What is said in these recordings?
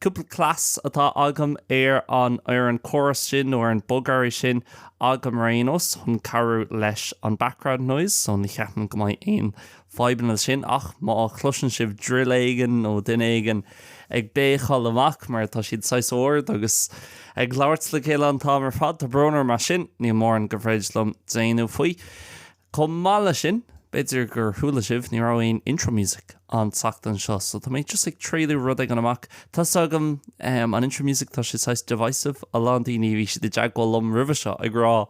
Cúpla cleas atá agam ar an ar an córas sin nó ar an bogearraí sin agam ar aon nós chun cabhrú leis an background noise so ní cheapann go mbeidh aon fadhbanna leis sin ach má chloiseann sibh drill éigin nó duine éigin ag béicáil amach mar tá siad saghas ard agus ag labhairt le chéile an t-am ar fad, tá brón orm as sin, níl mórán go bhféidir liom déanamh faoi. Chomh maith leis sin, b'fhéidir gur chuala sibh, ní raibh aon intro music an tseachtain seo, so tá mé just ag triailiú rud éigin amach. Tá 's agam, ehm, an intro music, tá sé saghas divisive, a lán daoine, bhí siad i dteagmháil liom roimhe seo ag rá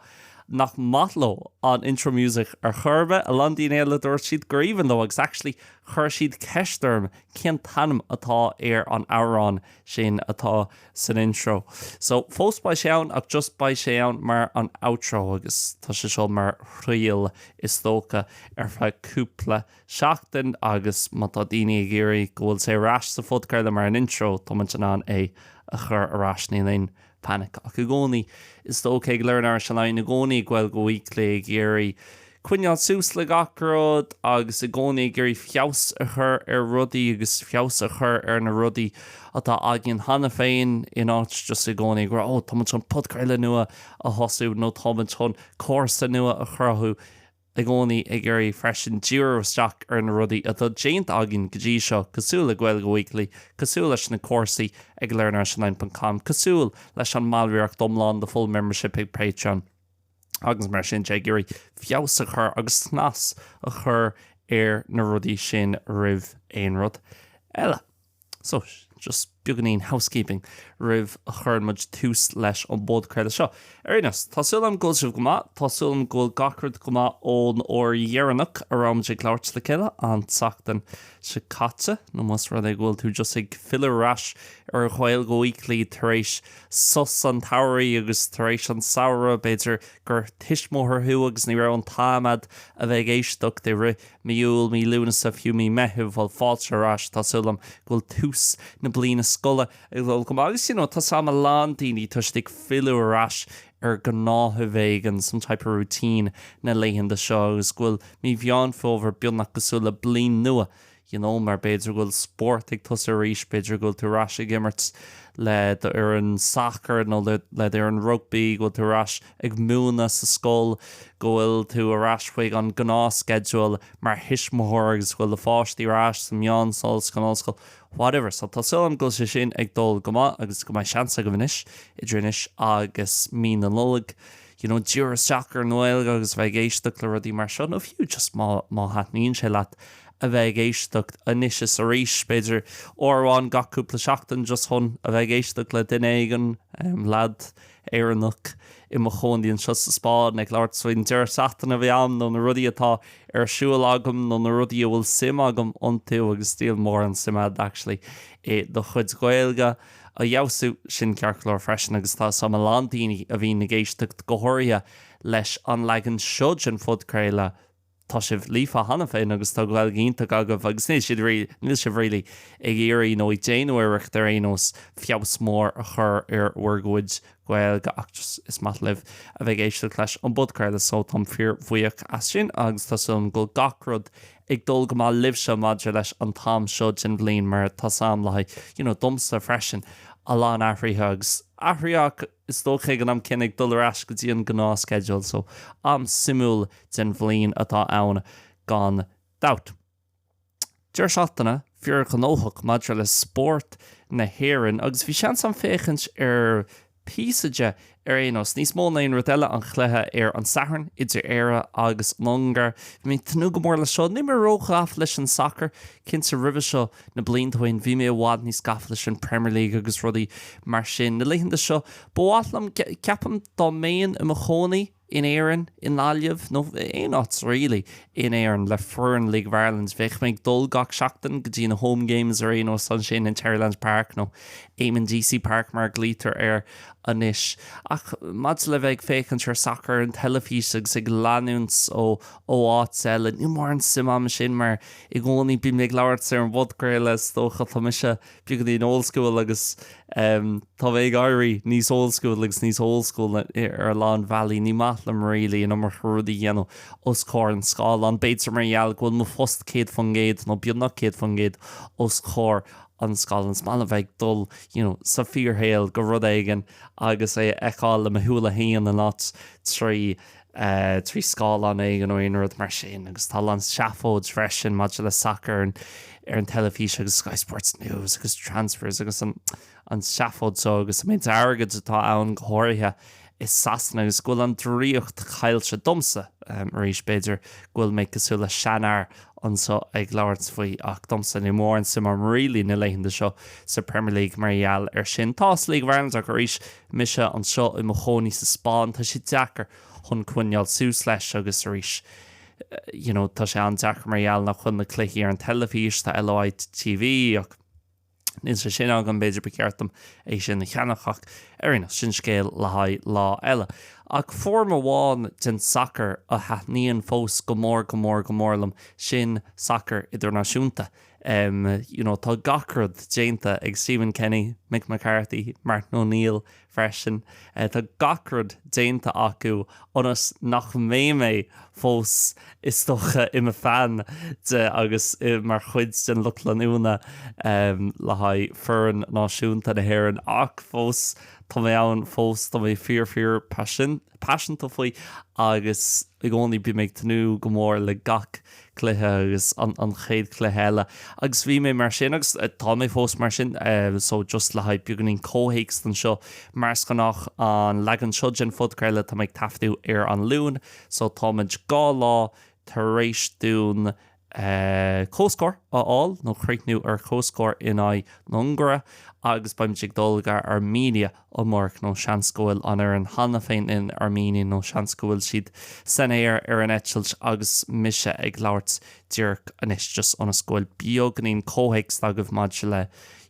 nach maith leo an intro music ar chor ar bith, a lán daoine eile dúirt siad gur aoibhinn leo agus actually chuir siad ceist orm cén t-ainm atá ar an amhrán sin atá san intro. So, fós beidh sé ann ach just beidh sé ann mar an outro agus tá sé seo mar thriail is dócha ar feadh cúpla seachtain agus má tá daoine ag iarraidh go bhfuil sé ar ais sa phodchraoladh mar an intro tá muid in ann é a chur ar ais níl aon panic ach i gcónaí is dócha ag Learn Irish Online i gcónaí ag Gaeilge Weekly ag iarraidh coinneáil suas le gach rud agus i gcónaí ag iarraidh feabhas a chur ar rudaí agus feabhas a chur ar na rudaí atá againn cheana féin in áit just i gcónaí ag rá 'Ó, táimid chun podchraoladh nua a thosú' nó 'Táimid chun cúrsa nua a chruthú'. I gcónaí ag iarraidh freisin díriú isteach ar na rudaí atá déanta againn go dtí seo, cosúil le Gaeilge Weekly, cosúil leis na cúrsaí ag learnirishonline.com, cosúil leis an mballraíocht iomlán, the full membership, ag Patreon. agus mar sin de ag iarraidh feabhas a chur agus snas a chur ar na rudaí sin roimh aon rud eile. So, just beagáinín housekeeping roimh a chuireann muid tús leis an bpodchraoladh seo. Ar aon nós, tá súil agam go bhfuil sibh go maith, tá súil agam go bhfuil gach rud go maith ón uair dheireanach a raibh muid ag labhairt le chéile an tseachtain seo caite, nó más rud é go bhfuil tú just ag filleadh ar ais ar Ghaeilge Weekly tar éis sos an tsamhraidh agus tar éis an samhradh b'fhéidir gur tuismitheoir thú agus ní raibh an t-am agat a bheith ag éisteacht i rith mí Iúil, mí Lúnasa, fiú mí Meithimh, bhuel fáilte ar ais, tá súil agam go bhfuil tús na bliana scoile ag dul go maith agus you know tá 's agam a lán daoine tá siad ag filleadh ar ais ar ghnáthamh éigin, some type of routine na laethanta seo agus go bhfuil mí Mheán Fómhair beagnach cosúil le bliain nua you know mar b'fhéidir go bhfuil spórt ag tosú arís, b'fhéidir go bhfuil tú ar ais ag imirt le d'fhoireann sacair nó le le d'fhoireann rugbaí, go bhfuil tú ar ais ag múineadh sa scoil, go bhfuil tú ar ais chuig an gnáthsceideal mar thuismitheoir agus go bhfuil do pháistí ar ais sa mheánscoil, san ollscoil, whatever. So tá súil agam go bhfuil sé sin ag dul go maith agus go mbeidh seans agaibh anois, idir anois agus mí na Nollag, you know, díreach isteach ar an nGaeilge agus bheith ag éisteacht le rudaí mar seo, nó fiú just má, má thaitníonn sé leat a bheith ag éisteacht anois is arís, b'fhéidir uair amháin gach cúpla seachtain just chun a bheith ag éisteacht le duine éigin, em, leaid Éireannach i mo chónaí anseo sa Spáinn ag labhairt faoin deireadh seachtaine a bhí ann nó na rudaí atá ar siúl agam nó na rudaí a bhfuil suim agam iontu agus níl mórán suim a'd actually i do chuid Gaeilge. a fheabhsú. Sin ceart go leor freisin agus tá a fhios a'm a lán daoine a bhíonn ag éisteacht go háirithe leis an leagan seo den phodchraoladh, tá sibh líofa cheana féin agus tá Gaeilge iontach agaibh agus níl siad, níl sibh really ag iarraidh nó ag déanamh iarracht ar aon nós feabhas mór a chur ar bhur gcuid Gaeilge ach just, is maith libh a bheith ag éisteacht leis an bpodchraoladh so táim fíor bhuíoch as sin agus tá súil agam go bhfuil gach rud ag dul go maith libhse maidir leis an t-am seo den bhliain mar tá a fhios a'm le haghaidh, you know, domsa freisin, a lán athruithe agus athraithe ach is dócha ag an am céanna ag dul ar ais go dtí an gnáthsceideal so am suimiúil den bhliain atá ann gan dabht. Deireadh seachtaine fíorghnóthach maidir le spórt na hÉireann agus bhí seans agam féachaint ar píosa de ar aon nós, níos mó ná aon rud eile, an cluiche ar an Satharn idir Éire agus an Ungáir. Bhí mé ag tnúth go mór le seo. Níl mé ró-ghafa leis an sacar. Cinnte, roimhe seo, na blianta ó shin, bhí mé i bhfad níos gafa leis an Premier League agus rudaí mar sin. Na laethanta seo, ba mhaith liom, ceapaim, dá mbeinn i mo chónaí, in Éirinn, i nGaillimh, nó aon áit really in Éirinn, le foireann League of Ireland. Bheadh mé ag dul gach seachtain go dtí na home games ar aon nós, ansin in Terryland Park, nó Eamonn Deacy Park mar a ghlaoitear air anois. Ach maidir le bheith ag féachaint ar sacar ar an teilifís agus ag leanúint ó áit eile, níl mórán suim a'm ansin mar i gcónaí bím ag labhairt ar an bpodchraoladh is dócha. Tá mise. beagáinín old school agus tá mé ag éirí níos old school agus níos old school ar a lán bealaí, ní maith liom really an iomarca rudaí a dhéanamh os comhair an scáileáin. B'fhéidir mar gheall go bhfuil mo phost céad faoin gcéad nó beagnach céad faoin gcéad os comhair an scáileáin. Is maith liom bheith ag dul you know sa fíorshaol go rud éigin agus é a fheiceáil le mo shúile féin agus not trí trí scáileán éigin nó aon rud mar sin agus tá a lán seafóid freisin maidir le sacar ar ar an teilifís agus Sky Sports News agus Transfers agus an an seafóid seo agus an méid airgid atá ann go háirithe i Sasana agus go bhfuil an draíocht caillte domsa arís b'fhéidir go bhfuil mé cosúil le seanfhear anseo ag labhairt faoi ach domsa níl mórán suim a'm really na laethanta seo sa Premier League mar gheall ar sin. Tá a fhios a'm League of Ireland ach arís Mise anseo i mo chónaí sa Spáinn, tá sé deacair chun coinneáil suas leis agus arís you know tá sé an-deacair mar gheall nach bhfuil na cluichí ar an teilifís, tá LOI TV ach níl sé sin agam, b'fhéidir ba cheart dom é sin a cheannach ach ar aon nós, sin scéal le haghaidh lá eile. Ach foirm amháin den sacar a thaitníonn fós go mór, go mór, go mór liom, sin sacar idirnáisiúnta. em you know tá gach rud déanta ag Stephen Kenny, Mick McCarthy, Martin O'Neill freisin, eh tá gach rud déanta acu ionas nach mbeidh mé fós is dócha i mo fan de agus mar chuid den lucht leanúna em le haghaidh foireann náisiúnta na hÉireann ach fós tá mé ann fós tá mé fíor fíor paisean paiseanta faoi agus I gcónaí bím ag tnúth go mór le gach cluiche agus an chéad chluiche eile agus bhí mé mar sin agus tá mé fós mar sin so just le haghaidh beagáinín comhthéacs anseo mar is gnách an leagan seo den phodchraoladh tá mé ag taifeadadh ar an Luain so táimid dhá lá tar éis dúinn comhscór a fháil nó críochnú ar comhscór in aghaidh na hUngáire agus beimid ag dul go Armenia amárach nó seans go bhfuil an fhoireann cheana féin in Armenia nó seans go bhfuil siad san aer ar an eitilt agus mise ag labhairt díreach anois just ionas go bhfuil beagáinín comhthéacs agaibh maidir le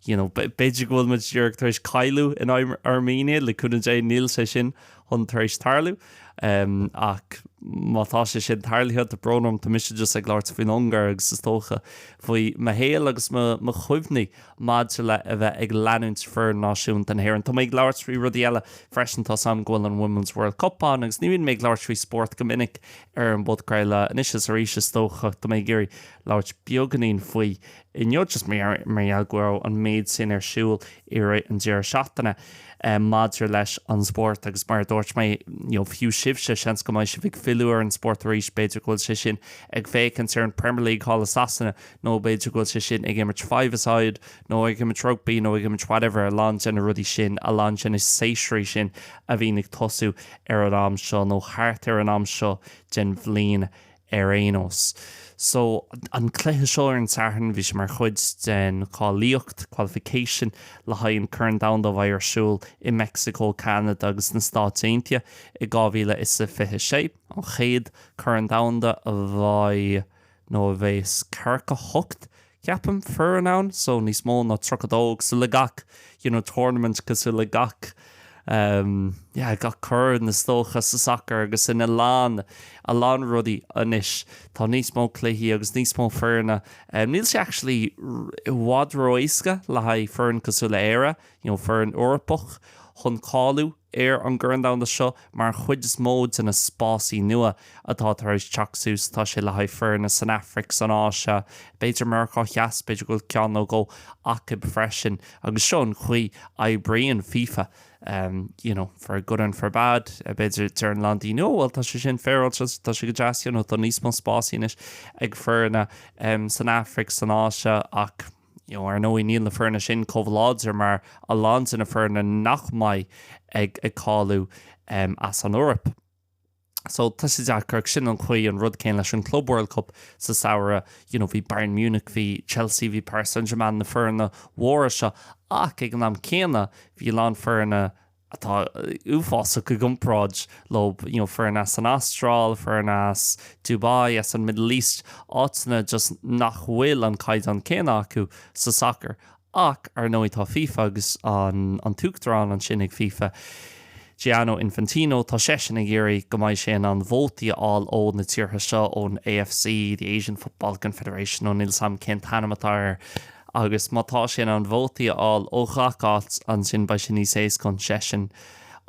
you know b'fhéidir go bhfuil muid díreach tar éis cailleadh in aghaidh Armenia le cúnamh Dé níl sé sin chun tar éis tarlú. Ach má tá sé sin tarlaithe, tá brón orm, tá mise just ag labhairt faoin Ungáir agus is dócha faoi mo shaol agus mo chuimhní maidir le a bheith ag leanúint foireann náisiúnta na hÉireann. Tá mé ag labhairt faoi rudaí eile freisin, tá's a'm go bhfuil an Women's World Cup ann agus ní bhíonn mé ag labhairt faoi spórt go minic ar an bpodchraoladh. Anois is arís is dócha, tá mé ag iarraidh labhairt beagáinín faoi. inniu just mar gheall go raibh an méid sin ar siúl i rith an deireadh seachtaine maidir leis an spórt agus mar a dúirt mé, fiú sibhse, seans go mbeidh sibh ag filleadh ar an spórt arís, b'fhéidir go bhfuil sé sin ag féachaint ar an Premier League thall i Sasana nó b'fhéidir go bhfuil sé sin ag imirt five-a-side nó ag imirt rugbaí nó ag imirt whatever, a lán de na rudaí sin, a lán de na séasúir sin a bhíonn ag tosú ar an am seo nó thart ar an am seo den bhliain. Ar aon nós, so, an cluiche seo ar an Satharn, bhí sé mar chuid den cháilíocht, qualification, le haghaidh an Corn Domhanda a bheidh ar siúl i Meicsiceo, Ceanada agus sna Stáit Aontaithe i dhá mhíle is a fiche sé, an chéad Corn Domhanda a bheidh, nó a bhéas, ceathracha hocht Ceapaim foirne ann so níos mó ná tríocha dó cosúil le gach you know tournament cosúil le gach um yeah gach corn is dócha sa sacar agus in a lán a lán rudaí anois tá níos mó cluichí agus níos mó foirne um níl sé actually i bhfad róéasca le haghaidh foireann cosúil le hÉire you know foireann Eorpach chun cáiliú Ar an gCorn Domhanda seo, mar an chuid is mó de na spásaí nua atá tar éis teacht suas, tá sé le haghaidh foirne san Afraic, san Áise, b'fhéidir Meiriceá Theas, b'fhéidir go bhfuil ceann nó dhó acu freisin. Agus seo an chaoi a oibríonn fifa, you know, for good and for bad. B'fhéidir, deireann a lán daoine, oh bhuel, tá sé sin féaráilte, tá sé go deas, you know, tá níos mó spásaí anois ag foirne san Afraic, san Áise, ach, Ar ndóigh, níl na foirne sin chomh láidir mar a lán de na foirne nach mbeidh ag cáiliú as an Eoraip. So, tá sé deacair ach sin an chaoi, an rud céanna leis an Club World Cup sa samhradh, you know, bhí Bayern Munich, bhí Chelsea, bhí Paris Saint-Germain, na foirne mhóra seo ach ag an am céanna bhí a lán foirne, atá uafásach i gcomparáid leo, you know foirne as an Astráil, foirne as Dubai, as an Middle East, áiteanna just nach bhfuil an caighdeán céanna acu sa sacar. Ach, ar ndóigh, tá fifa agus an an t-uachtarán ansin ag fifa, Gianni Infantino, tá seisean ag iarraidh go mbeidh sé in ann vótaí a fháil ó na tíortha seo, ón AFC, the Asian Football Confederation, nó níl 's 'am cén t-ainm atá air. Agus má tá sé in ann vótaí a fháil ó ghach áit ansin, beidh sé níos éasca chun seisean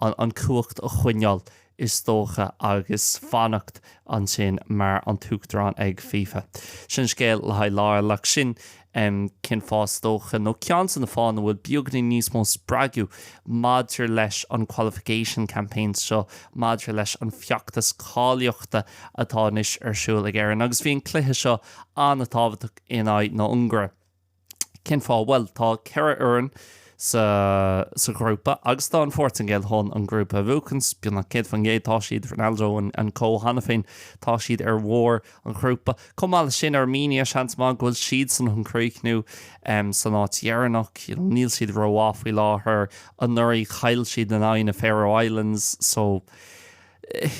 an chumhacht a choinneáil, is dócha, agus fanacht ansin mar an t-uachtarán ag FIFA. Sin scéal le haghaidh lá eile. Ach sin cén fáth, is dócha, nó ceann de na fáthanna, a bhfuil beagainín níos mó spreagadh maidir leis an qualification campaign seo, maidir leis an feachtas cáilíochta atá anois ar siúl ag Éirinn. Agus bhí an cluiche seo an-tábhachtach. in aghaidh na hUngáire. Cén fáth? Bhuel, tá ceithre fhoireann sa sa ghrúpa agus tá an Phortaingéil chun an grúpa a bhuachaint, beagnach 100% tá siad, Ronaldo and co cheana féin, tá siad ar bharr an ghrúpa. Chomh maith leis sin, Armenia, seans maith go bhfuil siad chun críochnú em san áit dheireanach, you know, níl siad ró-mhaith faoi láthair, anuraidh chaill siad in aghaidh na Faroe Islands so,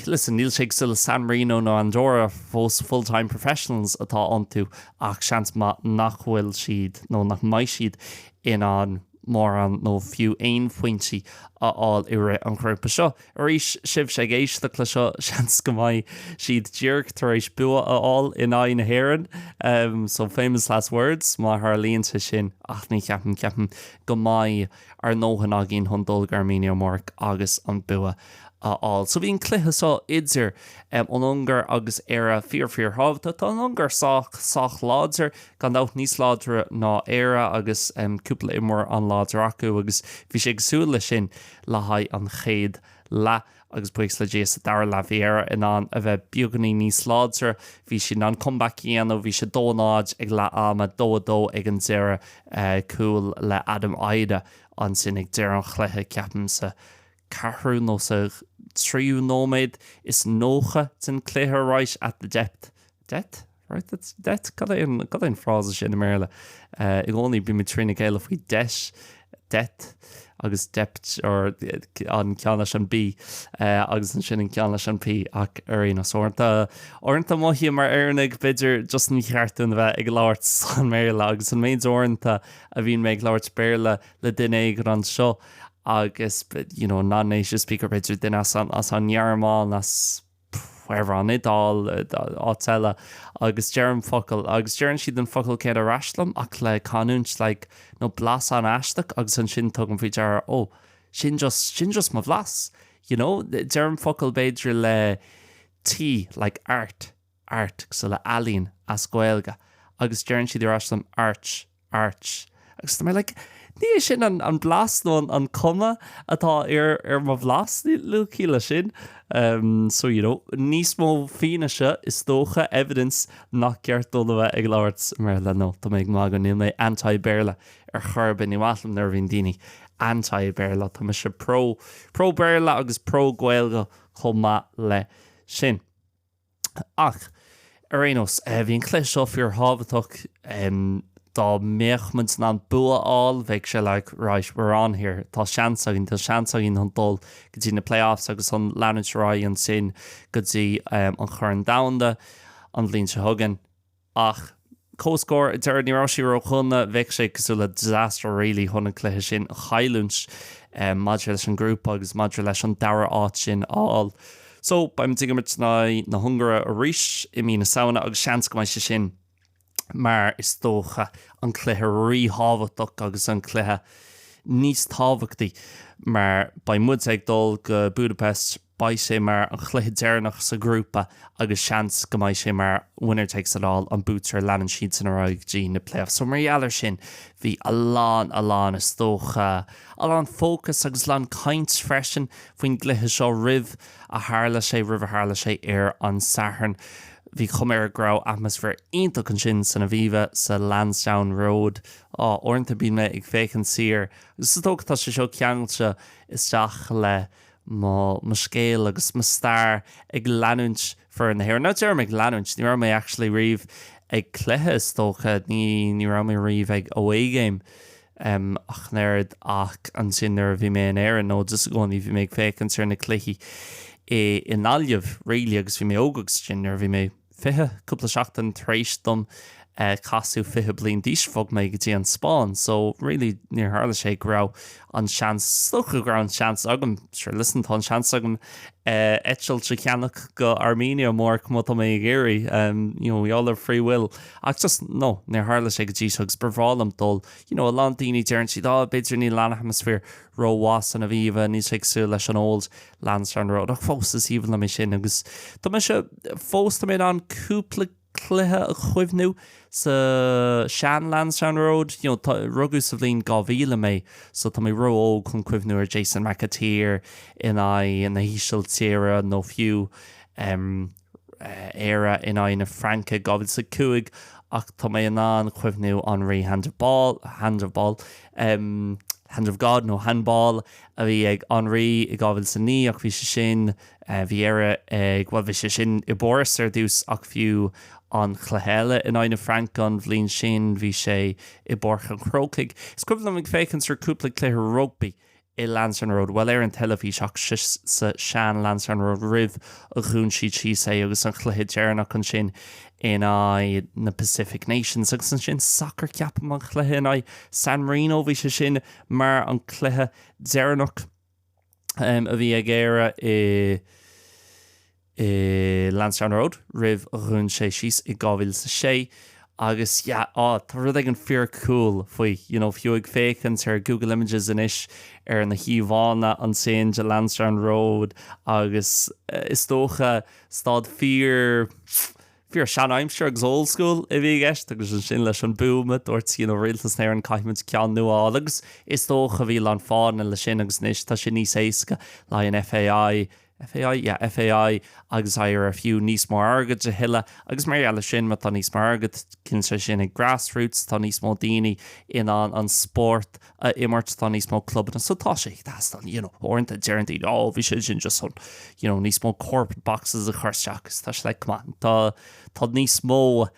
listen, níl sé cosúil le San Marino nó Andorra fós full-time professionals atá iontu ach seans maith nach bhfuil siad nó nach mbeidh siad in ann mórán nó fiú aon phointí a fháil i rith an ghrúpa seo. Arís sibhse ag éisteacht le seo, seans go mbeidh siad díreach tar éis bua a fháil in aghaidh na hÉireann, so famous last words má tharlaíonn sé sin ach ní cheapaim, ceapaim go mbeidh. ar ndóthain againn chun dul go Armenia amárach agus an bua a fháil. So bhí an cluiche seo idir an Ungáir agus Éire fíor, fíor thábhachtach. Tá an Ungáir sách láidir, gan dabht níos láidre ná Éire agus cúpla imreoir an-láidir acu agus bhí sé cosúil leis sin le haghaidh an chéad leath. Agus buíochas le Dia, sa dara leath bhí Éire in ann a bheith beagainín níos láidre. Bhí siad in ann comeback a dhéanamh. Bhí sé dó a náid ag leath ama, dó a dó ag an deireadh. Cúl le Adam Idah ansin ag deireadh an chluiche, ceapaim sa ceathrú nó sa tríú nóiméad is nócha den chluiche, right at the death. Depth? Right at the death. Cad é an, cad é an frása sin i mBéarla? Eh, i gcónaí bímid trína chéile faoi death, depth, agus dept, or an ceann leis an B, eh, agus ansin an ceann leis an P, ach ar aon nós, uaireanta, uaireanta mothaím mar Éireannaigh, b'fhéidir, just ní cheart dúinn a bheith ag labhairt san mBéarla, agus an méid uaireanta a bhíonn mé ag labhairt Béarla le duine éigin anseo, agus, you know, non-native speaker, b'fhéidir duine as an, as an nGearmáin, as, wherever an Iodáil, áit eile, agus deirim focal, agus deireann siad an focal céanna ar ais liom, ach le canúint, like, nó blas an-aisteach, agus ansin tugaim faoi deara, ó, sin just, sin just mo bhlas, you know? Deirim focal, b'fhéidir, le T, like, art, art, so le ealaín, as Gaeilge, agus deireann siad ar ais liom, arch, Arch. Agus tá mé like, ní é sin an an blas nó an an cuma atá ar ar mo bhlas, ní níl ciall leis sin. Umm so you know, níos mó fianaise is dócha, evidence, nach gceart dúinn a bheith ag labhairt i mBéarla, nó tá mé ag magadh níl mé anti Béarla ar chor ar bith, ní maith liom nuair a bhíonn daoine anti Béarla, tá mise pro pro Béarla agus pro Gaeilge chomh maith leis sin. Ach, ar aon nós, bhí an cluiche seo fíor thábhachtach. Dá mbeadh muid in ann bua a fháil, bheadh sé like right, we're on here, tá seans againn, tá seans againn chun dul go dtí na play offs agus chun leanúint ar aghaidh ansin go dtí an Corn Domhanda an bhliain seo chugainn. Ach comhscór ar deireadh, ní raibh sé ródhona. Bheadh sé cosúil le disaster really chun an cluiche sin a chailliúint maidir leis an ngrúpa agus maidir leis an dara háit sin a fháil. So, beimid ag imirt in aghaidh na hUngáire arís i mí na Samhna agus seans go mbeidh sé sin, mar is dócha, an cluiche ríthábhachtach agus an cluiche níos tábhachtaí mar beidh muide ag dul go Budapest. Beidh sé mar an chluiche deireanach sa ghrúpa agus seans go mbeidh sé mar winner takes it all, an buaiteoir a leanann siadsan ar aghaidh go dtí na playoffs. So mar gheall ar sin bhí a lán, a lán is dócha, a lán fócas agus a lán caint freisin faoin gcluiche seo roimh a tharla sé, roimh a tharla sé ar an Satharn. Bhí chuma air go raibh atmaisféar iontach ansin san Aviva, sa Lansdowne Road. Á, uaireanta bíonn mé ag féachaint siar agus is dócha tá sé seo ceangailte isteach le. mo scéal agus mo stair ag leanúint fir na hÉireann. Nuair a deirim ag leanúint, ní raibh mé actually riamh ag cluiche is dócha, ní ní raibh mé riamh ag away game ach an oiread ach ansin nuair a bhí mé in Éirinn nó just i gcónaí bhí mé ag féachaint ar na cluichí i nGaillimh really agus bhí mé óg agus ansin nuair a bhí mé 20, cúpla seachtain tar éis dom casadh 20 bliain d'aois bhog mé go dtí an Spáinn so really níor tharla sé go raibh an seans, is dócha go raibh an seans agam, sure listen tá an seans agam eitilt a cheannach go hArmenia amárach má tá mé ag iarraidh um you know we all have free will ach just no níor tharla sé go dtí seo agus ba bhreá liom dul you know a lán daoine deireann siad oh b'fhéidir níl an atmaisféar ró mhaith san Aviva níl sé cosúil leis an old Lansdowne Road ach fós is aoibhinn liom é sin agus tá mise fós, tá mé in ann cúpla cluiche a chuimhniú sa sean Lansdowne Road, you know, tá, rugadh sa bhliain 2000 mé so tá mé ró-óg chun cuimhniú ar Jason McAteer in aghaidh na hÍsiltíre nó fiú, em, Éire in aghaidh na Fraince 2005 ach tá mé in ann cuimhniú Henry handball, handball, em Hand of God nó Handball a bhí ag Henry i 2009 ach bhí sé sin, eh bhí Éire ag bhuel bhí sé sin i bPáras ar dtús ach fiú an cluiche eile in aghaidh na Fraince an bhliain sin bhí sé i bPáirc an Chrócaigh. Is cuimhin liom ag féachaint ar cúpla cluiche rugbaí i Lansdowne Road. Bhuel, ar an teilifís, ach sa sean Lansdowne Road roimh a dhún siad síos é agus an chluiche deireanach ansin in aghaidh na Pacific Nations agus ansin sacar ceapaim an chluiche in aghaidh San Marino, bhí sé sin mar an cluiche deireanach um, a bhí ag Éire i. i Lansdowne Road roimh a dhún sé síos i 2006 agus yeah á tá rud éigin fíor cool faoi you know fiú ag féachaint ar Google Images anois ar na híomhánna ansin de Lansdowne Road agus is dócha staid fíor fíor seanaimsir agus old school a bhí i gceist agus ansin leis an boom a dúirt you know Rialtas na hÉireann caithfimid ceann nua a fháil agus is dócha bhí a lán fáthanna le sin agus anois tá sé níos éasca le haghaidh an FAI FAI, yeah, FAI, agus iarraidh fiú níos mó airgid a thuilleadh, agus mar gheall ar sin, má tá níos mó airgid, cinnte ansin ag grassroots, tá níos mó daoine in ann an spórt a imirt, tá níos mó clubanna, so tá sé ag teastáil, you know, uaireanta deireann daoine, oh, bhí sé sin just chun, you know, níos mó corporate boxes a chur isteach, agus tá sé like, come on, tá, tá níos mó,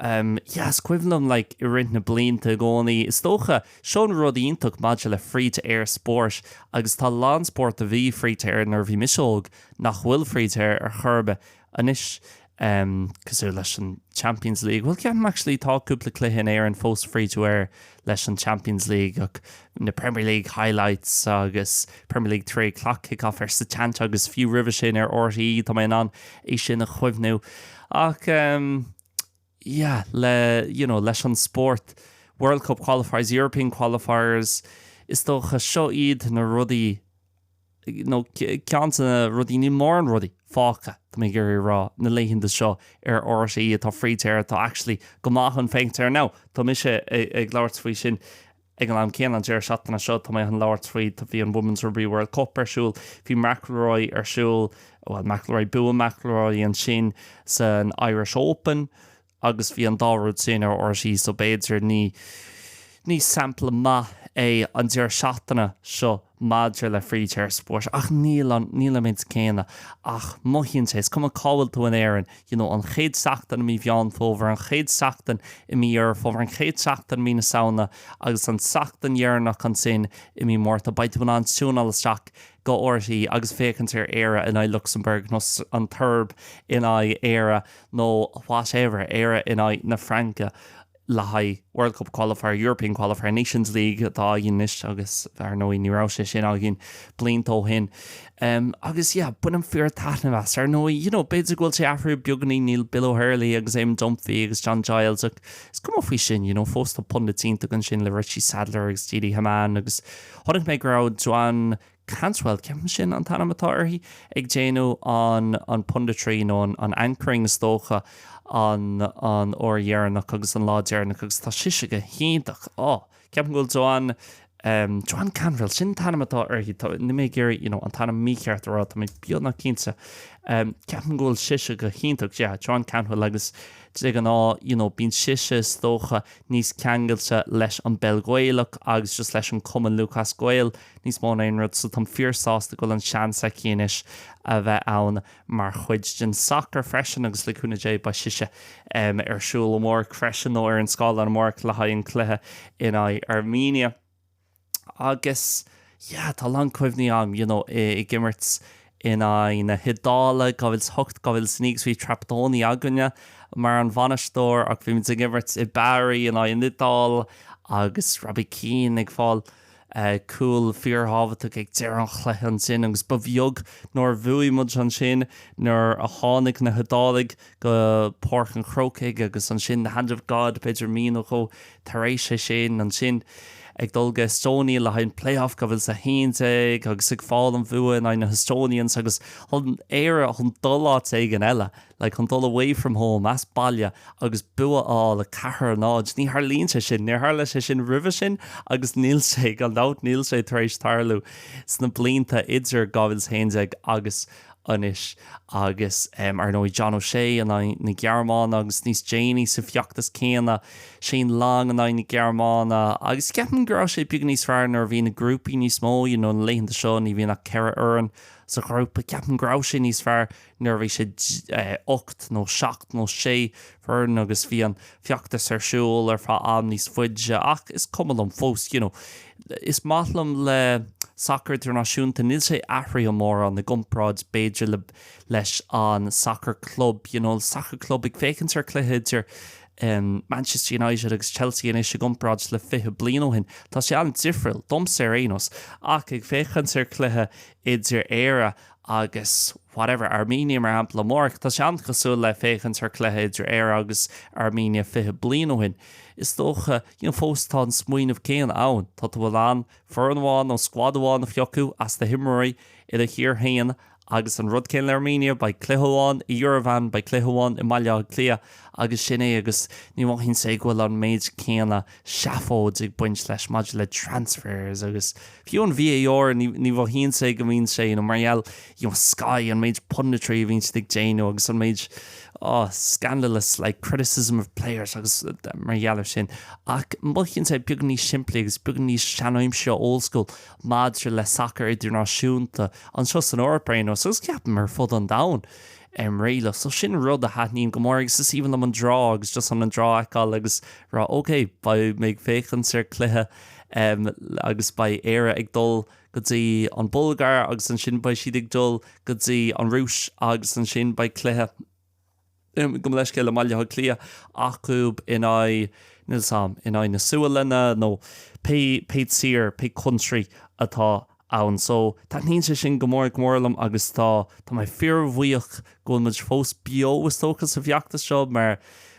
Umm, yeah, is cuimhin liom, like, i rith na mblianta i gcónaí, is dócha, seo an rud iontach maidir le free-to-air spóirt, agus tá a lán spórt a bhí free-to-air nuair a bhí mise óg nach bhfuil free-to-air ar chor ar bith anois, ehm, cosúil leis an Champions League, bhuel, ceapaim, actually, tá cúpla cluiche in Éirinn fós free-to-air. leis an Champions League ach na Premier League Highlights agus Premier League Three O'Clock Kick-Off ar Setanta agus fiú roimhe sin ar RTÉ, tá mé in ann é sin a chuimhniú. Ach um, yeah, le you know, leis an spórt World Cup qualifiers, European qualifiers, is dócha seo iad na rudaí nó ceann de na rudaí, níl mórán rudaí fágtha, tá mé ag iarraidh a rá, na laethanta seo ar RTÉ atá free-to-air, atá actually go maith chun féachaint air. Now, tá mise ag labhairt faoi sin ag an am céanna, an deireadh seachtaine seo, tá mé chun labhairt faoi, tá, bhí an Women's Rugby World Cup ar siúl, bhí McIlroy ar siúl, bhuel, McIlroy, bhuaigh McIlroy ansin san Irish Open, Agus bhí an dá rud sin ar RTÉ, so b'fhéidir ní ní sampla maith é an deireadh seachtaine seo maidir le free-to-air spóirt. Ach níl an, níl an méid céanna. Ach mothaíonn sé, is cuma cá bhfuil tú in Éirinn, you know, an chéad seachtain i mí Mheán Fómhair, an chéad seachtain i mí Dheireadh Fómhair, an chéad seachtain i mí na Samhna, agus an tseachtain dheireanach ansin i mí Márta, beidh tú in ann tiúineáil isteach go RTÉ agus féachaint ar Éire in aghaidh Lucsamburg nó an tSeirb in aghaidh Éire nó whatever, Éire in aghaidh na Fraince le haghaidh World Cup Qualifier, European Qualifier, Nations League atá againn anois agus ar ndóigh ní raibh sé sin againn blianta ó shin. Agus yeah, bainim fíor taitneamh as. Ar ndóigh, you know, b'fhéidir go bhfuil sé athrú beagáinín, níl Bill O'Herlihy agus Eamonn Dunphy agus John Giles ach is cuma faoi sin, you know, fós tá pundits iontach ansin le Richie Sadlier agus Didi Hamann agus chonaic mé go raibh Joanne Cantwell, ceapaim sin an t-ainm atá uirthi, ag déanamh an an punditry nó an an anchoring is dócha an an uair dheireanach agus an lá deireanach agus tá sise go hiontach. Ó, ceapaim go bhfuil Joanne ehm, Joanne Cantwell, sin an t-ainm atá uirthi, tá, níl mé ag iarraidh, you know, an t-ainm mícheart a rá, tá mé beagnach cinnte. Ehm, ceapaim go bhfuil sise go hiontach, yeah, Joanne Cantwell agus de ghnáth, you know, bíonn sise is dócha níos ceangailte leis an bpeil Ghaelach agus just leis an Cumann Lúthchleas Gael, Níos mó ná aon rud, so táim fíor-sásta go bhfuil an seans aici anois a bheith ann mar chuid den sacar freisin agus le cúnamh Dé beidh sise ar siúl amárach freisin nó ar an scáileán amárach le haghaidh an cluiche in aghaidh Armenia agus yeah tá a lán cuimhní agam you know ag imirt in aghaidh na hIodáile 2008, 2009 agus bhí Trapattoni againne mar an bhainisteoir ach bhí muid ag imirt i mBari in aghaidh an Iodáil agus Robbie Keane ag fáil. Cúl fíorthábhachtach ag deireadh an chluiche ansin agus ba bheag nár bhuaigh muid ansin nuair a tháinig na hIodálaigh go Páirc an Chrócaigh agus ansin the hand of God b'fhéidir mí nó dhó tar éis é sin. Ansin ag dul go Estonia le haghaidh an playoff 2011 agus ag fáil an bhua in aghaidh na hEstonians agus chun Éire chun dul áit éigin eile. Like, chun dul away from home, as baile, agus bua a fháil, 4 náid. Ní tharlaíonn sé sin. Níor tharla sé sin roimhe sin agus níl sé, gan dabht, níl sé tar éis tarlú sna blianta idir 2011 agus anois. Agus, em, ar ndóigh, John O'Shea in aghaidh na Gearmáine agus níos déanaí sa bhfeachtas céanna, Shane Long in aghaidh na Gearmáine. Agus ceapaim go raibh sé beag níos fearr nuair a bhí na grúpaí níos mó, you know, na laethanta seo ní bhíonn ach ceithre fhoireann sa ghrúpa, ceapaim go raibh sé níos fearr. nuair a bhí sé 8 nó 7 nó 6 foireann agus bhí an feachtas ar siúl ar feadh am níos faide ach is cuma liom fós, you know. Is maith liom le sacar idirnáisiúnta, níl sé athraithe mórán i gcomparáid b'fhéidir leis an sacar club, you know, sacar club ag féachaint ar chluiche idir Manchester United agus Chelsea anois i gcomparáid le 20 bliain ó shin, tá sé an-difriúil, domsa ar aon nós, ach ag féachaint ar chluiche idir Éire agus whatever, Armenia mar shampla amárach, tá sé an-chosúil le féachaint ar cluiche idir Éire agus Armenia fiche bliain ó shin, is dócha, you know, fós tá an smaoineamh céanna ann, tá tú, an bhfuil, in ann foireann amháin nó squad amháin a phiocadh as do himreoirí i do thír féin agus an rud céanna le Armenia, beidh cluiche amháin i Yerevan, beidh cluiche amháin i mBaile Átha Cliath agus sin é agus ní mhothaíonn sé go bhfuil an méid céanna. seafóid ag baint leis maidir le transfers agus fiú an VAR, ní mhothaíonn sé go mbíonn sé ina, mar gheall, you know, Sky, an méid punditry a bhíonn siad ag déanamh agus an méid, oh, scandalous, like, criticism of players agus mar gheall ar sin. Ach mothaíonn sé beag níos simplí agus beag níos seanaimseartha, old school, maidir le sacar idirnáisiúnta, anseo san Eoraip ar aon nós, agus ceapaim ar fud an domhain. ar an mbealach. So sin rud a thaitníonn go mór agus is aoibhinn liom an dráma agus just chun an dráma a fheiceáil agus a rá ok, beidh mé ag féachaint ar cluiche agus beidh Éire ag dul go dtí an Bulgáir agus ansin beidh siad ag dul go dtí an Rúis agus ansin beidh cluiche, gabh mo leithscéal, i mBaile Átha Cliath acu in aghaidh, níl 's agam, in aghaidh na Sualainne nó pé, pé sórt, pé country atá ann. So, taitníonn sé sin go mór, go mór liom agus tá, tá mé fíorbhuíoch go bhfuil muid fós beo is dócha sa bhfeachtas seo mar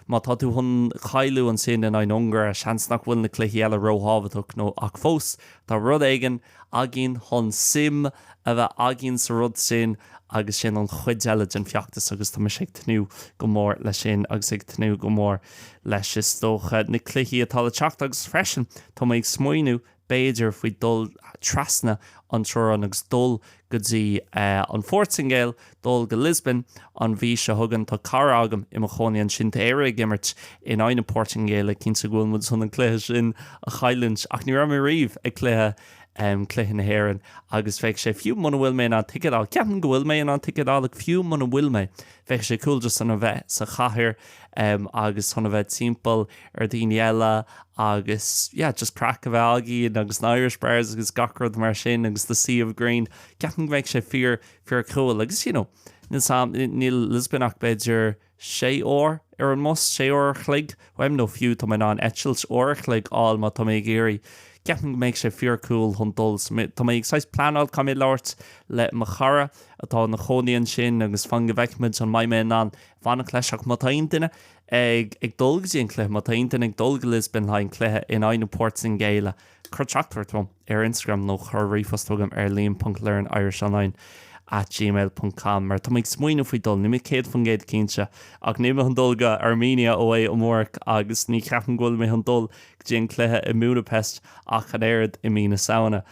má tá tú chun cáiliú ansin in aghaidh na hUngáire, seans nach bhfuil na cluichí eile róthábhachtach nó ach fós tá rud éigin againn chun suim a bheith againn sa rud sin agus sin an chuid eile den feachtas agus tá mise ag tnúth go mór leis sin agus ag tnúth go mór leis is dócha na cluichí atá le teacht agus freisin tá mé ag smaoineamh b'fhéidir, faoi dul trasna an teorainn agus dul go dtí an Phortaingéil, dul go Lisbon an mhí seo chugainn. Tá cara agam i mo chónaí ansin, tá Éire ag imirt in aghaidh na Portaingéile, cinnte go bhfuil muid chun an cluiche sin a chailliúint, ach ní raibh mé riamh ag cluiche, cluiche na hÉireann agus bheadh sé, fiú muna bhfuil mé in ann ticéad a fháil, ceapaim go bhfuil mé in ann ticéad a fháil, ach fiú muna bhfuil mé, bheadh sé cool just chun a bheith sa chathair agus chun a bheith timpeall. ar dhaoine eile agus yeah just craic a bheith againn agus na Irish bars agus gach rud mar sin agus the sea of green ceapaim go mbeidh sé fíor fíor cool agus you know níl 's am níl Lisbon ach b'fhéidir sé uair ar an mbus sé uair an chloig uaim nó fiú tá mé in ann eitilt uair an chloig a fháil má tá mé ag iarraidh ceapaim go mbeidh sé fíor cool chun dul so tá mé ag saghas pleanáil caithfidh mé labhairt le mo chara atá ina chónaí ansin agus fan go bhfeicfimid an mbeidh mé in ann fanacht leis ach má tá aon duine ag dul go dtí an cluiche. Má tá aon duine ag dul go Lisbon le haghaidh an cluiche in aghaidh na Portaingéile, cuir teachtaireacht chugam ar Instagram nó cuir ríomhphost chugam ar liam.learnirishonline at gmail ponc com mar tá mé ag smaoineamh faoi dul, níl mé 100% cinnte ach níl mé chun dul go Armenia ó é amárach agus ní cheapaim go bhfuil mé chun dul go dtí an cluiche i mBudapest ach an oiread i mí na Samhna.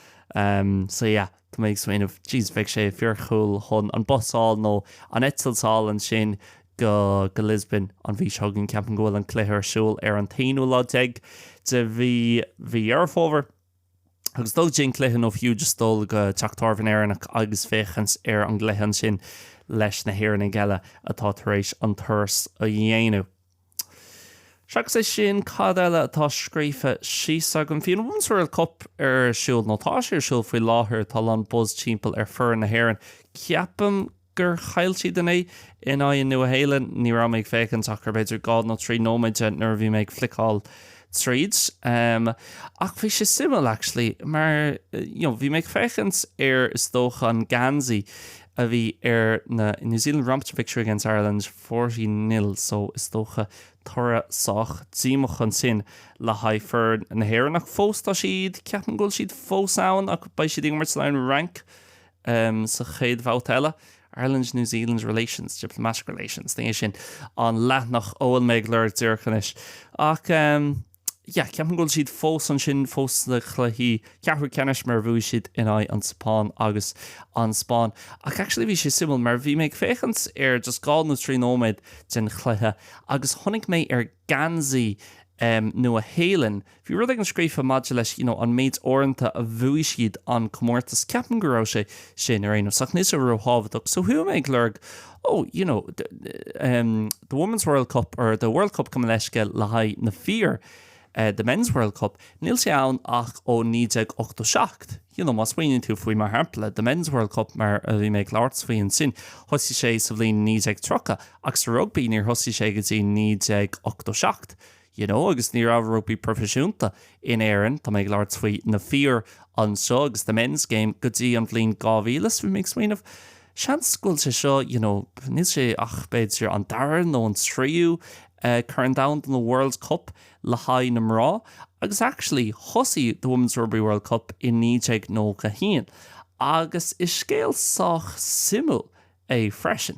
So yeah. Tá mé ag smaoineamh, jeez, bheadh sé fíor-cool chun an bus a fháil nó an eitilt a fháil ansin go go Lisbon an mhí seo chugainn. Ceapaim go bhfuil an cluiche ar siúl ar an t-aonú lá déag de mhí mhí Dheireadh Fómhair agus dul go dtí an cluiche nó fiú just dul go teach tábhairne Éireannach agus féachaint ar an gcluiche ansin leis na hÉireannaigh eile atá tar éis an turas a dhéanamh. Seachas é sin, cad eile atá scríofa síos agam? Bhí an Women's World Cup ar siúl, nó tá sé ar siúl faoi láthair. Tá a lán buzz timpeall ar foireann na hÉireann. Ceapaim gur chaill siad inné in aghaidh an Nua Shéalainn. Ní raibh mé ag féachaint ach ar b'fhéidir dhá nó trí nóiméad de nuair a bhí mé ag fliceáil tríd. Um, ach bhí sé suimiúil, actually, mar you know, bhí mé ag féachaint ar is dócha an Ganzi a bhí ar na New Zealand Romps Victory Against Ireland Forty nil, so is dócha toradh sách díomach ansin le haghaidh foireann na hÉireann. Ach fós tá siad, ceapaim go bhfuil siad fós ann ach beidh siad ag imirt sa lower rank sa chéad bhabhta eile. Ireland, New Zealand relations, diplomatic relations, ní hé sin an leathanach a bhfuil mé ag lorg díreach anois. Ach. yeah, ceapaim go bhfuil siad fós ansin fós sna cluichí ceathrú ceannais mar bhuaigh siad in aghaidh an tSeapáin agus an Spáin. Ach actually bhí sé suimiúil mar bhí mé ag féachaint ar just dhá nó trí nóiméad den chluiche agus chonaic mé ar gheansaí um, Nua Shéalainn, bhí rud éigin scríofa maidir leis you know, an méid uaireanta a bhuaigh siad an comórtas. Ceapaim go raibh sé sin ar aon nós ach níl sé róthábhachtach. So chuaigh mé ag lorg Oh, you know, the Women's World Cup or the World Cup gabh mo leithscéal le haghaidh na fir, the Men's World Cup, níl sé ann ach ó 1987. You know, má smaoiníonn tú faoi, mar shampla, the Men's World Cup mar a bhí mé ag labhairt faoi ansin, thosaigh sé sa bhliain 1930 ach sa rugbaí níor thosaigh sé go dtí 1987. you know agus ní raibh rugbaí proifisiúnta in Éirinn, tá mé ag labhairt faoi na fir anseo agus the men's game, go dtí an bhliain 2000 so bhí mé ag smaoineamh seans go bhfuil sé seo you know níl sé ach b'fhéidir an dara nó an tríú eh Corn Domhanda nó World Cup le haghaidh na mná agus actually thosaigh the Women's Rugby World Cup i 1991 agus is scéal sách suimiúil é freisin.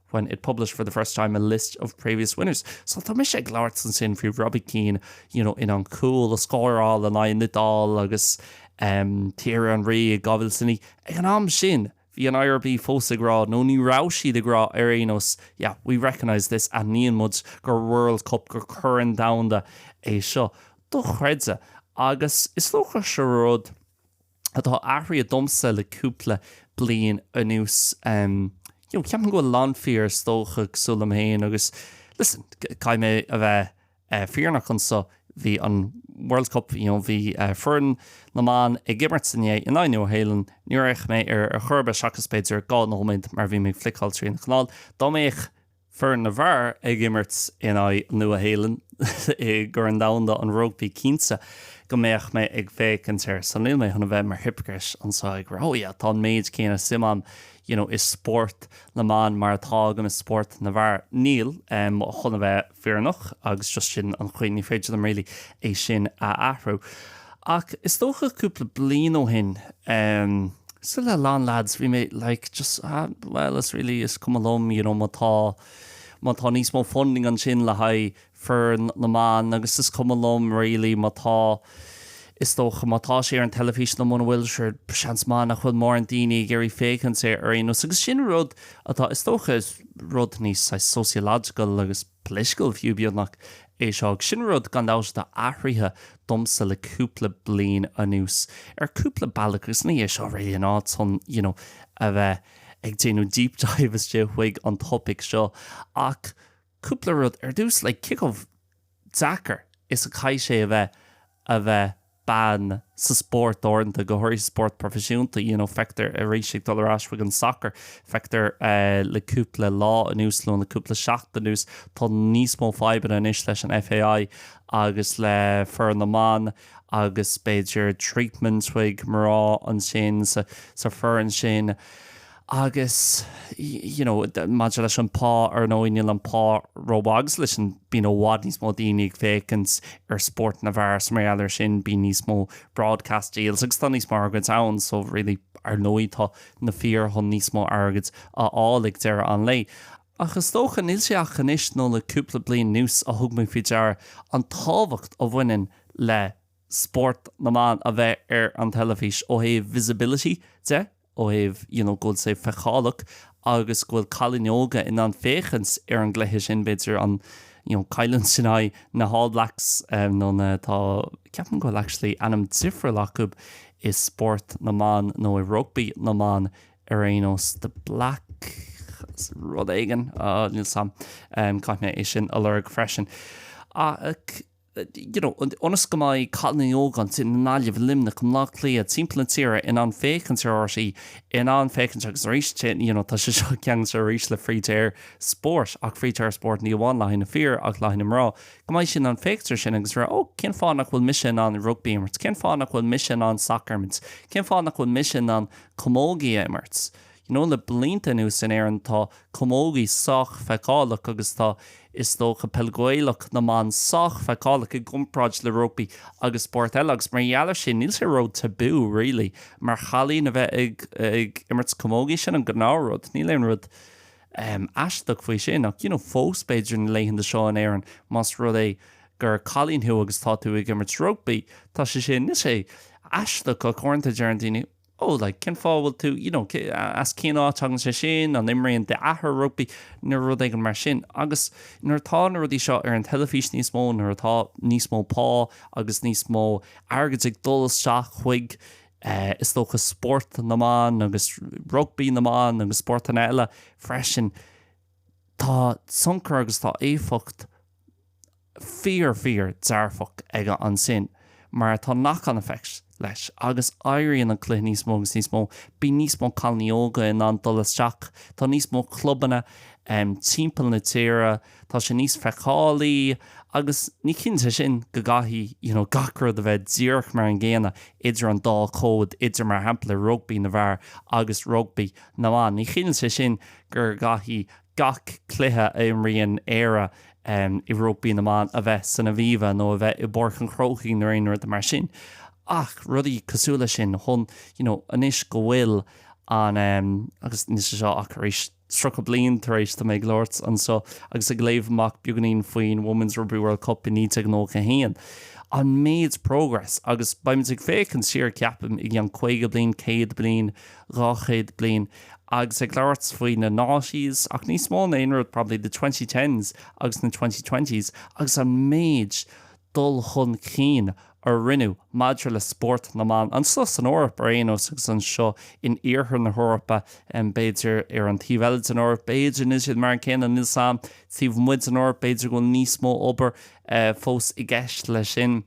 when it published for the first time a list of previous winners. So tá mise ag labhairt ansin faoi Robbie Keane, you know, an cúl a scóráil in aghaidh an Iodáil agus um, Thierry Henry i 2009. Ag an am sin, bhí an IRB fós ag rá, nó ní raibh siad ag rá ar aon nós, yeah, we recognise this, aithníonn muid gur World Cup, gur Corn Domhanda é seo. Dochreidte. Agus is dócha sé an rud. atá athraithe domsa le cúpla bliain anuas. Ceapaim go bhfuil a lán fir, is dócha, cosúil liom féin agus, listen, caithfidh mé a bheith fírinneach anso, bhí an World Cup, you know, bhí foireann na mban ag imirt inné in aghaidh Nua Shéalainn, níor fhéach mé ar chor ar bith seachas b'fhéidir dhá nóiméad mar bhí mé ag fliceáil trí na canáil. Dá mbeadh Foireann na bhfear ag imirt in aghaidh an Nua-Shéalainn i gCorn Domhanda an Rugbaí Cinnte go mbeadh mé ag féachaint air so níl mé chun a bheith mar hypocrite anseo ag rá, oh yeah, tá an méid céanna suim agam you know i spórt na mban mar atá agam i spórt na bhfear. Níl, em chun a bheith fírinneach agus just sin an chaoi, ní féidir liom really é sin a athrú. Ach is dócha cúpla bliain ó shin, em, cosúil le a lán leaids, bhí mé like just ah bhuel is really is cuma liom you know má tá, má tá níos mó funding ansin le haghaidh foireann na mban agus is cuma liom really má tá, is dócha má tá sé ar an teilifís nó muna bhfuil sure seans maith nach bhfuil mórán daoine ag iarraidh féachaint air ar aon nós agus sin rud atá is dócha rud níos saghas sociological agus Political, fiú beagnach, é seo. Ach sin rud, gan dabht, atá athraithe domsa le cúpla bliain anuas, ar cúpla bealach, agus ní hé seo really an áit chun, you know, a bheith ag déanamh deep dive istigh chuig an topaic seo, ach cúpla rud. Ar dtús, like, cé chomh deacair is a chaithfidh sé a bheith a bheith bean sa spórt uaireanta, go háirithe sa spórt proifisiúnta, you know, feictear arís ag dul ar ais chuig an sacar, feictear le cúpla lá anuas nó le cúpla seachtain anuas, tá níos mó fadhbanna anois leis an FAI agus le foireann na mban agus b'fhéidir treatment chuig mná ansin sa foireann sin. Agus, you know, maidir leis an pá, ar ndóigh, níl an pá róbheag 's leis an, bíonn i bhfad níos mó daoine ag féachaint ar spórt na bhfear 's mar gheall ar sin, bíonn níos mó broadcast deals agus tá níos mó airgid ann, so really, ar ndóigh, tá na fir chun níos mó airgid a fháil ag deireadh an lae. Ach is dócha, níl sé ach anois nó le cúpla bliain anuas a thug mé faoi deara an tábhacht a bhaineann le spórt na mban a bheith ar an teilifís ó thaobh visibility de, ó thaobh, you know, go bhfuil sé feiceálach agus go bhfuil cailíní óga in ann féachaint ar an gcluiche sin, b'fhéidir, an, you know, cailliúint sin in aghaidh na hAll Blacks, eh, nó na, tá, ceapaim go bhfuil actually ainm difriúil acu i spórt na mban nó i rugbaí na mban ar aon nós, the Black, rud éigin, ah, níl a fhios agam, eh, caithfidh mé é sin a lorg freisin. Ach. you know, ionas go mbeidh cailíní óga ansin i nGaillimh, i Luimneach, i mBleá Cliath, timpeall na tíre in ann féachaint ar RTÉ, in ann féachaint agus arís, you know, tá sé seo ceangailte arís le free-to-air spórt, ach free-to-air spórt ní amháin le haghaidh na fir ach le haghaidh na mná, go mbeidh siad in ann féachaint ar sin agus rá, oh, cén fáth nach bhfuil mise in ann rugbaí a imirt, cén fáth nach bhfuil mise in ann sacar a imirt, cén fáth nach bhfuil mise in ann camógaí a imirt, you Nó le blianta anuas in Éirinn tá camógaí sách feiceálach agus tá, is dócha, peil Ghaelach na mban sách feiceálach i gcomparáid le rugbaí agus spóirt eile agus mar gheall ar sin níl sé ró tabú really mar chailín a bheith ag imirt camógaí, sin an gnáth rud, níl aon rud ehm aisteach faoi sin ach you know fós b'fhéidir na laethanta seo in Éirinn más rud é gur cailín thú agus tá tú ag imirt rugbaí tá sé sin, níl sé aisteach ach uaireanta deireann daoine oh. Oh, like, cén fáth a bhfuil tú, you know, as cén áit thagann sé sin, an imríonn d'athair rugbaí, nó rud éigin mar sin. Agus nuair atá na rudaí seo ar an teilifís níos mó, nuair atá níos mó pá agus níos mó airgead ag dul isteach chuig, eh, is dócha, spórt na mban agus rugbaí na mban agus spórtanna eile freisin, tá tionchar agus tá éifeacht. fíor fíor dearfach aige ansin mar tá knock on effect leis agus éiríonn an cluiche níos mó agus níos mó, bíonn níos mó cailíní óga in ann dul isteach, tá níos mó clubanna timpeall na tíre, tá sé níos feiceálaí agus ní chiallaíonn sé sin go gcaithfidh you know gach rud a bheith díreach mar an gcéanna idir an dá chód idir mar shampla rugbaí na bhfear agus rugbaí na mban, ní chiallaíonn sé sin gur gcaithfidh. gach cluiche a imríonn Éire i rugbaí na mban a bheith san Aviva nó a bheith i bPáirc an Chrócaigh nó aon rud mar sin ach rudaí cosúil leis sin chun you know anois go bhfuil an em agus anois anseo tar éis tríocha bliain tar éis tá mé ag labhairt anseo agus ag léamh amach beagainín faoin Women's Rugby World Cup i 1991 an méid progress agus beimid ag féachaint siar ceapaim i gceann caoga bliain céad bliain dhá chéad bliain agus ag labhairt faoi na noughties ach níos mó ná aon rud probably the twenty tens agus na twenty twenties agus an méid dul chun cinn a rinneadh maidir le spórt na mban anseo san Eoraip ar aon nós agus anseo in iarthar na hEorpa b'fhéidir ar an taobh eile den Eoraip b'fhéidir níl siad mar an céanna níl 's agam taobh amuigh den Eoraip b'fhéidir go bhfuil níos mó obair fós i gceist leis sin.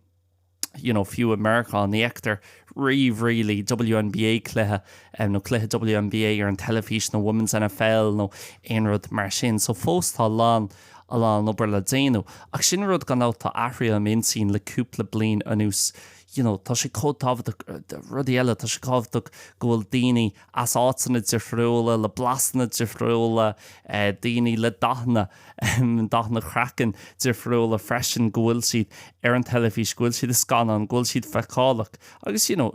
you know, fiú i Meiriceá, ní fheictear riamh really WNBA cluiche nó cluiche WNBA ar an teilifís nó Women's NFL nó aon rud mar sin. So fós tá a lán, a lán obair le déanamh. Ach sin rud gan dabht tá athraithe im intinn le cúpla bliain anuas, you know, tá sé chomh tábhachtach, rudaí eile, tá sé tábhachtach go bhfuil daoine as áiteanna difriúla, le blasanna difriúla, daoine le dathanna. dathanna craiceann difriúla freisin, go bhfuil siad ar an teilifís, go bhfuil siad i scannáin, go bhfuil siad feiceálach agus you know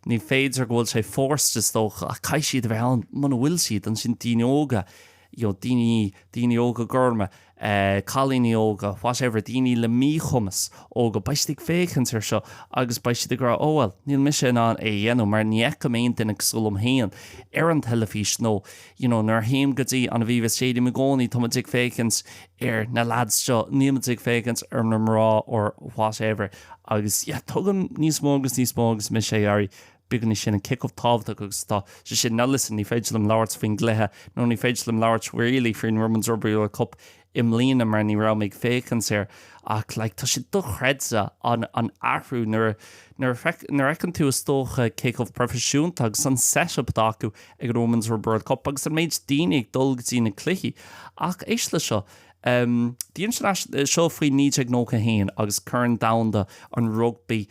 ní féidir go bhfuil sé forced is dócha ach caithfidh siad a bheith ann muna bhfuil siad ansin daoine óga you know daoine daoine óga gorma eh, cailíní óga whatever daoine le míchumas óga beidh siad ag féachaint ar seo agus beidh siad ag rá oh well níl mise in ann é a dhéanamh mar ní fheicim aon duine cosúil liom féin ar an teilifís nó you know nuair a théim go dtí an Aviva Stadium i gcónaí tá muid ag féachaint ar na lads seo, níl muid ag féachaint ar na mná or whatever agus yeah tuigim níos mó agus níos mó agus mise ag éirí beagáinín níos sine cé chomh tábhachtach agus tá sé sin, now listen ní féidir liom labhairt faoin gcluiche nó ní féidir liom labhairt really faoin Women's Rugby World Cup i mbliana mar ní raibh mé ag féachaint air ach like tá sé dochreidte an an athrú nuair a nuair a feic nuair a fheiceann tú is dócha cé chomh proifisiúnta agus an set up atá acu ag an women's rugby world cup agus an méid daoine ag dul go dtí na cluichí ach éist le seo um the international seo faoi 1991 agus corn domhanda an rugbaí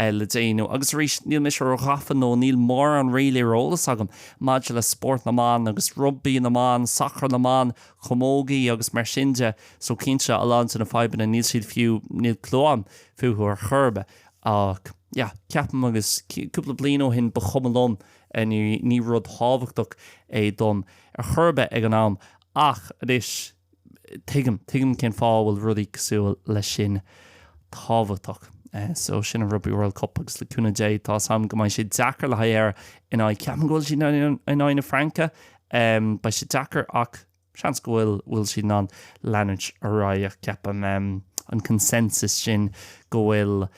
é le déanamh. Agus arís, níl mise róghafa nó níl mórán really ar eolas agam maidir le spórt na mban agus rugbaí na mban, sacar na mban, camógaí agus mar sin de, so cinnte, a lán de na fadhbanna, níl siad fiú, níl clue agam fúthu ar chor ar bith. Ach yeah, ceapaim agus cúpla bliain ó shin ba chuma liom, ní rud tábhachtach é dom ar chor ar bith ag an am. Ach anois. Tuigim, tuigim cén fáth a bhfuil rudaí cosúil leis sin tábhachtach. So sin an Rugby World Cup agus le cúnamh Dé tá a fhios agam go mbeidh sé deacair le haghaidh Éire in aghaidh, ceapaim go bhfuil siad in aghaidh na Fraince, beidh sé deacair ach seans go bhfuil, bhfuil siad in ann leanúint ar aghaidh ach ceapaim an consensus sin go bhfuil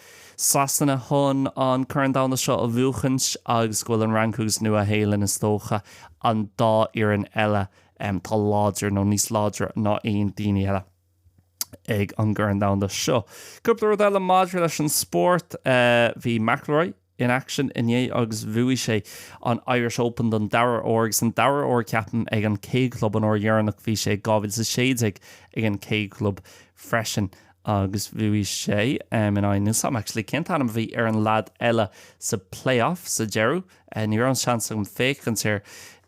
Sasana chun an Corn Domhanda seo a bhuachaint agus go bhfuil an Fhrainc agus Nua-Shéalainn is dócha an dá fhoireann eile Tá láidir nó níos láidre ná aon daoine eile ag an gCorn Domhanda seo. Cúpla rud eile maidir leis an spórt, bhí McIlroy in action inné agus bhuaigh sé an Irish Open don dara huair agus an dara huair ceapaim ag an K Club an uair dheireanach bhí sé 2016 ag an K Club freisin agus bhuaigh sé in aghaidh, níl a fhios agam actually cén t-ainm a bhí ar an lad eile sa playoff sa deireadh? Ní raibh an seans agam féachaint air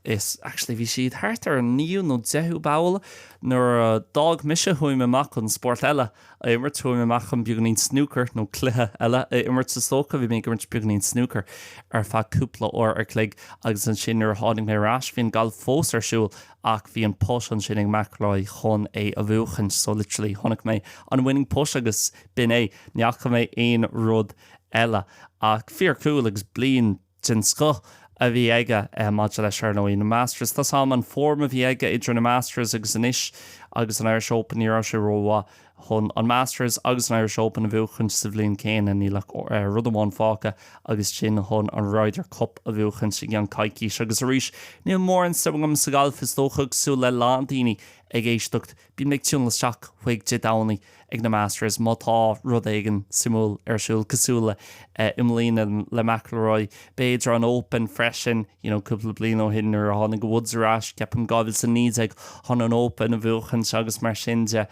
is actually bhí siad thart ar an naoú nó deichiú poll nuair a d'fhág mise chuaigh mé amach chun spórt eile a imirt, chuaigh mé amach chun beagáinín snúcair nó cluiche eile a imirt. Is dócha bhí mé ag imirt beagáinín snúcair ar feadh cúpla uair ar chloig agus ansin nuair a tháinig mé ar ais bhí an gailf fós ar siúl ach bhí an putt ansin ag McIlroy chun é a bhuachaint so literally chonaic mé an winning putt agus b'in é. Ní fhaca mé aon rud eile. Ach fíor cool agus bliain den scoth a bhí aige maidir leis ar ndóigh. Na Masters, tá 's a'm an form a bhí aige idir na Masters agus anois agus an Irish Open, ní raibh sé ró-mhaith chun an Masters agus an Irish Open a bhuachaint sa bhliain céanna. Níl ach rud amháin fágtha agus sin é chun an Ryder Cup a bhuachaint i gceann coicíse. Agus arís, níl mórán suim agam sa ghalf, is dócha, cosúil le lán daoine ag éisteacht. Bíonn mé ag tiúnáil isteach chuig Dé Domhnaigh ag na Masters má tá rud éigin suimiúil ar siúl, cosúil le i mbliana le McIlroy, b'fhéidir an Open freisin, you know cúpla bliain ó shin nuair a tháinig Woods ar ais, ceapaim 2019, chun an Open a bhuachaint agus mar sin de.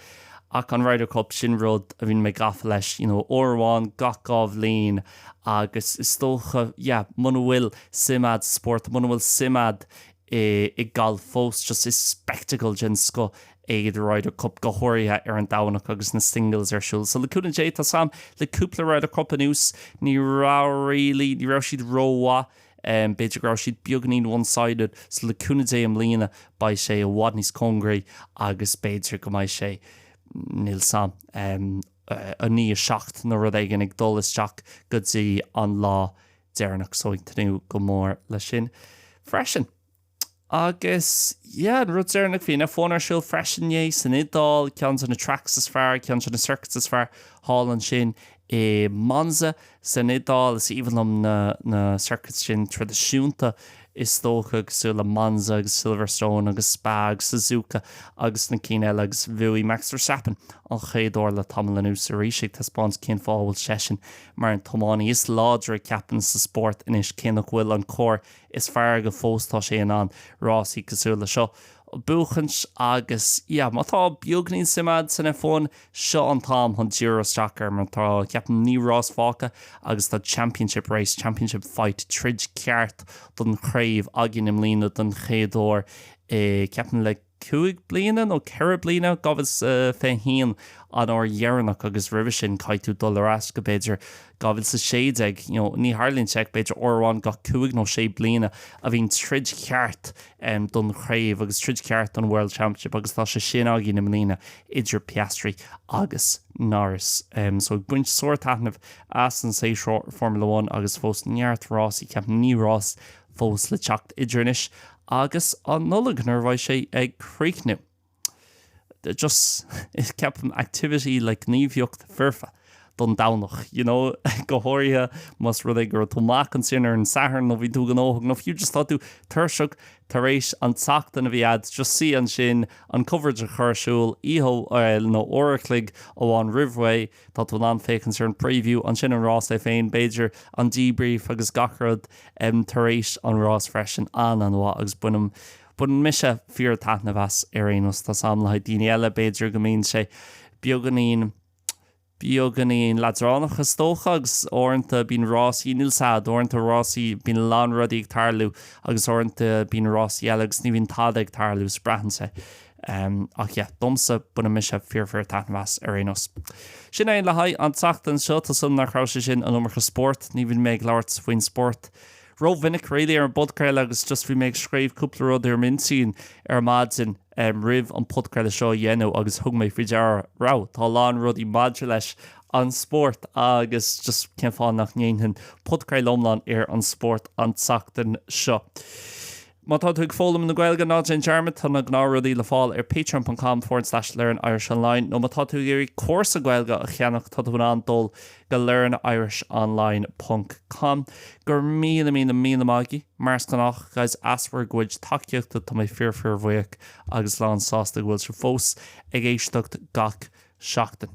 Ach an Ryder Cup, sin rud a bhíonn mé gafa leis, you know uair amháin gach dhá bhliain agus is dócha, yeah, muna bhfuil suim a'd sa spórt, muna bhfuil suim a'd i. i ngalf fós, just is spectacle den scoth é The Ryder Cup, go háirithe ar an Domhnach agus na singles ar siúl. So le cúnamh Dé, tá 's a'm le cúpla Ryder Cup anuas, ní raibh really, ní raibh siad rómhaith, b'fhéidir go raibh siad beagainín one-sided, so le cúnamh Dé i mbliana beidh sé i bhfad níos cóngaraí agus b'fhéidir go mbeidh sé, níl 's a'm, 9, 7 nó rud éigin ag dul isteach go dtí an lá deireanach so ag tnúth go mór le sin freisin. Agus yeah, an rud deireanach bhí an F1 ar siúl freisin inné san Iodáil, ceann de na tracks is fearr, ceann de na circuits is fearr thall ansin i Monza san Iodáil. Is aoibhinn liom na na circuits sin traidisiúnta is dócha, cosúil le Monza agus Silverstone agus Spa agus Suzuka agus na cinn eile agus bhuaigh Max Verstappen an chéad uair le tamall anuas arís, ag taispeáint cén fáth a bhfuil seisean mar an tiománaí is láidre, ceapaim, sa spórt anois. Cé nach bhfuil an carr is fearr aige fós, tá sé in ann rásaí cosúil le seo a bhuachaint agus, yeah, má tá beagainín suim a'd san F1, Seo an t-am chun díriú isteach air mar tá, ceapaim, naoi rás fágtha agus tá championship race, championship fight, troid cheart don chraobh, againn i mbliana don chéad uair i, ceapaim, le cúig bliana nó ceithre bliana. 2021 an uair dheireanach agus roimhe sin caithfidh tú dul ar ais go, b'fhéidir, 2016. You know, ní tharlaíonn sé ach b'fhéidir uair amháin gach cúig nó sé bliana a bhíonn troid cheart don chraobh agus troid ceart don World Championship agus tá sé sin againn i mbliana idir Piastri agus Norris so ag baint sár-taitneamh as an séasúr Formula One agus fós neart rásaí ceapaim naoi rás fós le teacht idir anois agus an Nollaig nuair a bheidh sé ag críochnú. just ceapaim activity nó gníomhaíocht foirfe don Domhnach, you know, go háirithe más rud é go raibh tú amuigh ansin ar an Satharn nó bhí tú gnóthach nó fiú just tá tú tuirseach tar éis an tseachtain a bhí a'd just suí ansin an coverage a chur ar siúl oíche nó uair a chloig amháin roimh ré tá tú in ann féachaint ar an preview ansin an rás é féin b'fhéidir an debrief agus gach rud tar éis an rás freisin an-an-mhaith agus bainim Baineann mise fíor taitneamh as ar aon nós. Tá 's a'm le haghaidh daoine eile, b'fhéidir go mbíonn sé beagáinín, beagáinín leadránach is dócha agus uaireanta bíonn rásaí, níl 's a'd, uaireanta rásaí, bíonn a lán rudaí ag tarlú agus uaireanta bíonn rásaí eile agus ní bhíonn tada ag tarlú, 's braitheann sé. Em, ach yeah, domsa, baineann mise fíor fíor taitneamh as ar aon nós. Sin é le haghaidh an tseachtain seo, tá 's agam nach raibh sé sin an iomarca spórt, ní bhíonn mé ag labhairt faoin spóirt, Ró-mhinic really ar an bpodchraoladh agus just bhí mé ag scríobh cúpla rud ar m'intinn ar maidin roimh an podchraoladh seo a dhéanamh agus thug mé faoi deara, wow, tá a lán rudaí maidir leis an spóirt agus just cén fáth nach ndéanfainn podchraoladh iomlán ar an spóirt an tseachtain seo. Má tá tú ag foghlaim na Gaeilge, ná déan dearmad, tá na gnáth rudaí le fáil ar patreon ponc com forward slash learnirishonline nó má tá tú ag iarraidh cúrsa Gaeilge a cheannach, tá tú in ann dul go learnirishonline ponc com. Go raibh míle míle míle maith agaibh, mar is gnách, guys, as bhur gcuid tacaíochta, tá mé fíor fíor bhuíoch agus lán sásta go bhfuil sibh fós ag éisteacht gach seachtain.